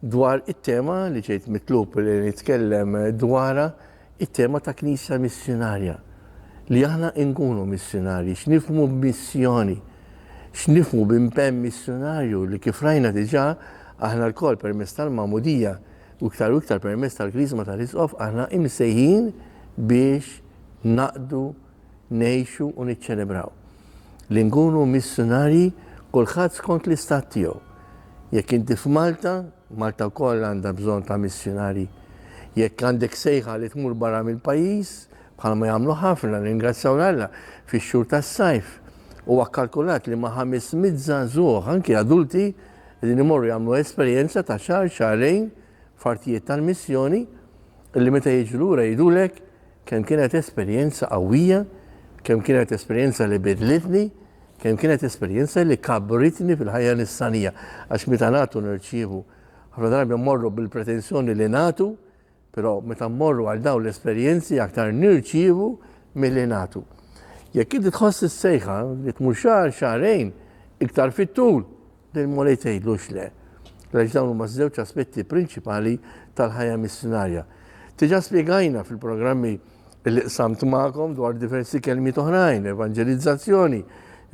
Dwar it-tema li ġejt mitlub li nitkellem dwarha, it-tema ta' Knisja Missjunarja. Li aħna nkunu missjunarji, x'nifhmu b'missjoni, x'nifhmu b'impenn missjunarju li kif rajna diġà aħna lkoll permezz tal-magħmudija u iktar u iktar permezz tal-Griżma tal-Isqof aħna imsejħin biex naqdu ngħixu u niċċelebraw li nkunu missjunarji kulħadd skont l-istat tiegħu. Jekk inti f'Malta, Malta wkoll għandha bżonn ta' missjunarji. Jekk għandek sejħa li tmur barra mill-pajjiż, bħalma jagħmlu ħafna, ringrazzjaw l Alla, fix-xhur tas-sajf. Huwa kkalkulat li ma' 500 żagħżugħ, anki adulti, qegħdin imorru jagħmlu esperjenza ta' xahar, xahrejn f'artijiet tal-missjoni, li meta jiġu lura jgħidulek Kemm kienet esperjenza qawwija, kemm kienet esperjenza li biddlitni, kemm kienet esperjenza li kabbritni fil-ħajja nisranija. Għax meta nagħtu nirċievu. Ħafna drabi mmorru bil-pretensjoni li nagħtu, però meta mmorru għal dawn l-esperjenzi aktar nirċievu milli nagħtu. Jekk inti tħoss is-sejħa li tmur xahar, xahrejn, iktar fit-tul, Lil Mulej tgħidlux le, għaliex dawn huma ż-żewġ aspetti prinċipali tal-ħajja missjunarja. Diġà spjegajna fil-programmi li qsamt magħkom dwar diversi kelmiet oħrajn, evanġelizzazzjoni,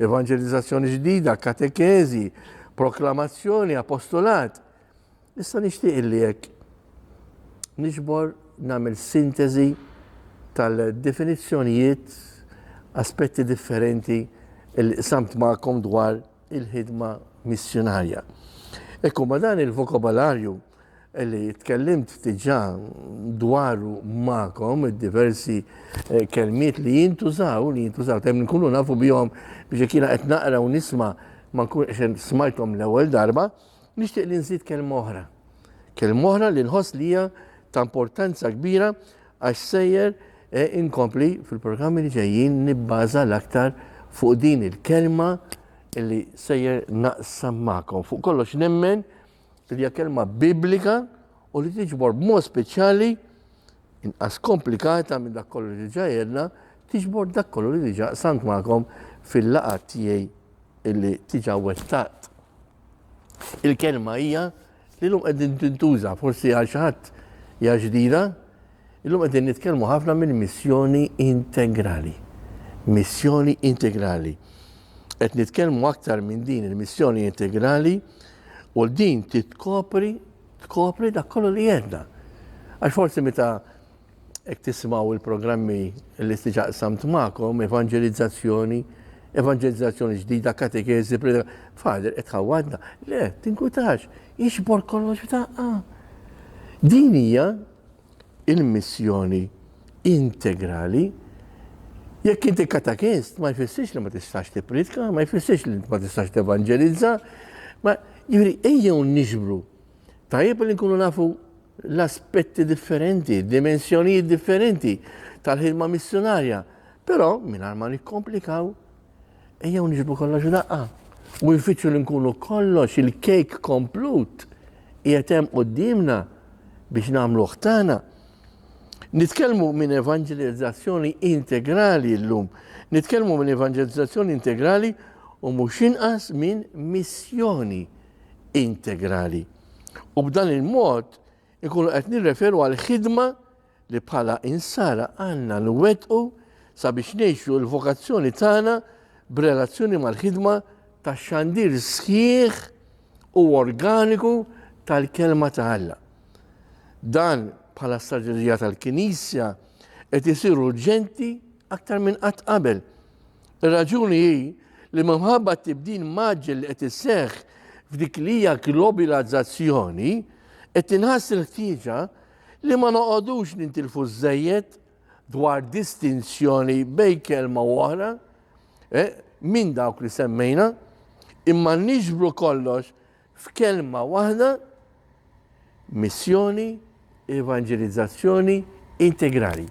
evanġelizzazzjoni ġdida, katekeżi, proklamazzjoni, apostolat. Issa nixtieq li hekk nixbor nagħmel sinteżi tal-definizzjonijiet aspetti differenti li qsamt magħkom dwar il-ħidma missjunarja. Hekk hu ma' dan il-vokabolarju li tkellimt diġà dwaru magħkom id-diversi eh, kelmiet li jintużaw, li jintużaw, temm nkunu nafu bihom biex kiena qed naqra u nisma ma nkun qed smajthom l-ewwel darba, nixtieq li nżid kelma oħra. Kelma oħra li nħoss li hija ta' importanza kbira Għax sejjer inkompli fil-programmi li ġejjin nibbaża l-aktar fuq din il-kelma li sejjer naqsam magħkom. Fuq kollox nemmen li hija kelma biblika u li tiġbor b'mod speċjali inqas komplikata minn dak kollu li ġa jedna, tiġbor dak kollu li diġa samt magħkom fil-laqat tiegħi illi tiġa wettaqt. Il-kelma hija li llum qegħdin tintuża forsi għal xi ħadd hija ġdida, illum qegħdin nitkellmu ħafna minn missjoni integrali. Missjoni integrali. Qed nitkellmu aktar minn din il-missjoni integrali u din titkopri tkopri dak kollu li jedna. Għax forsi meta Jekk tismaw il-programmi li tiġa qsamt magħkom, evanġelizzazzjoni, evanġelizzazzjoni ġdida, katekeżi, fader qed ħawadna. Le, tinkutax, jiġbor kollox f'daqqa. Din hija il-missjoni integrali. Jekk inti katakist, ma jfissirx li ma tistax tippritka, ma jfissirx li ma tistax tevanġelizza, ma juri ejjew niġbru. Tajjeb li nkunu nafu l-aspetti differenti, dimensjonijiet differenti tal-ħidma missjonarja. Però mingħajr ma nikkomplikaw, ejjew niġbu kollox daqqa u nfittxu li nkunu kollox il-kejk komplut qiegħed hemm qudiemna biex nagħmlu ħtana. Nitkellmu minn evanġelizzazzjoni integrali llum, nitkellmu minn evanġelizzazzjoni integrali u mhux inqas minn missjoni integrali. U b'dan il-mod ikunu qed nirreferu għal ħidma li bħala insara għandna nwettqu sabiex ngħixu l-vokazzjoni tagħna b'relazzjoni mal-ħidma ta' xandir sħiħ u organiku tal-Kelma ta' Alla. Dan bħala strateġija tal-Knisja qed isir urġenti aktar minn qatt qabel. Ir-raġuni hi li minħabba t-tibdil mgħaġġel li qed iseħħ f'dik li hija globilazzazzjoni, qed tinħass il-ħtieġa li ma noqogħdux nintilfu żżejjed dwar distinzjoni bejn kelma u oħra eh, minn dawk li semmejna, imma niġbru kollox F'kelma waħda, missjoni, evanġelizzazzjoni integrali.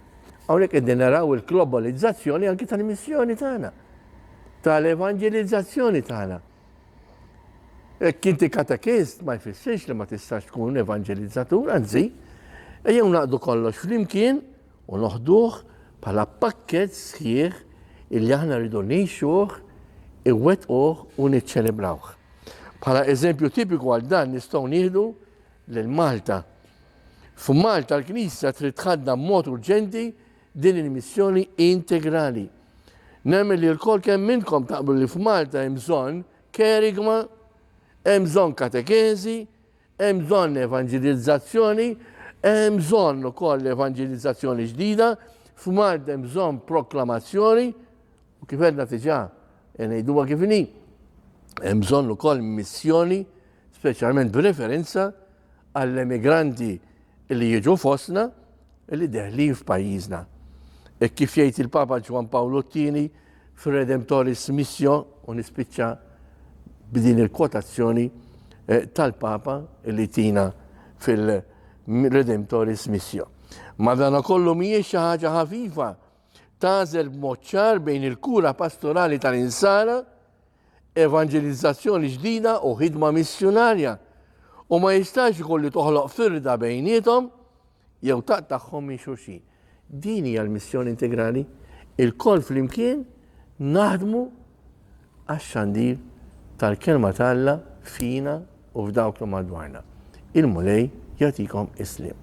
Hawnhekk qegħdin naraw il-globalizzazzjoni anki tal-missjoni tagħna, tal-evanġelizzazzjoni tagħna. Hekk inti katekist ma jfissirx li ma tistax tkun evanġelizzatur, anzi, ejjew naqdu kollox flimkien u noħduh bħala pakkett sħiħ illi aħna rridu ngħixuh, iwettquh u niċċelebrawh. Bħala eżempju tipiku għal dan nistgħu nieħdu lil Malta. F'Malta l-Knisja trid tħaddam b'mod urġenti din il-missjoni integrali. Nemmen li l-kol kemm minnkom taqblu li f'Malta hemm bżonn kerigma, hemm bżonn katekeżi, Hemm bżonn evanġilizzazzjoni, hemm bżonn ukoll evanġilizzazzjoni ġdida, f'mard hemm bżonn proklamazzjoni, u kif għedna diġà e ngħiduha kif inhi, hemm bżonn ukoll missjoni, speċjalment b'referenza għall-emigranti li jiġu fostna li deħlin f'pajjiżna. Hekk kif jgħid il-Papa Ġwann Pawlu t-Tieni fir-Redemptoris Missio, u nispiċċa b'din il-kwotazzjoni eh, tal-Papa li tina fil-Redemptoris Missio. Madana kollu mhijiex xi ħaġa ħafifa tażel b'mod ċar bejn il-kura pastorali tal-insara, evangelizzazzjoni ġdida u ħidma missjonarja. U ma jistax ikolli toħloq firda bejnietom Jew taqtagħhom minn xulxin. Din hija l-missjoni integrali, ilkoll flimkien naħdmu għax-xandir tal-Kelma ta' Alla fina u f'dawk li madwarna. Il-Mulej jagħtikom is-sliem.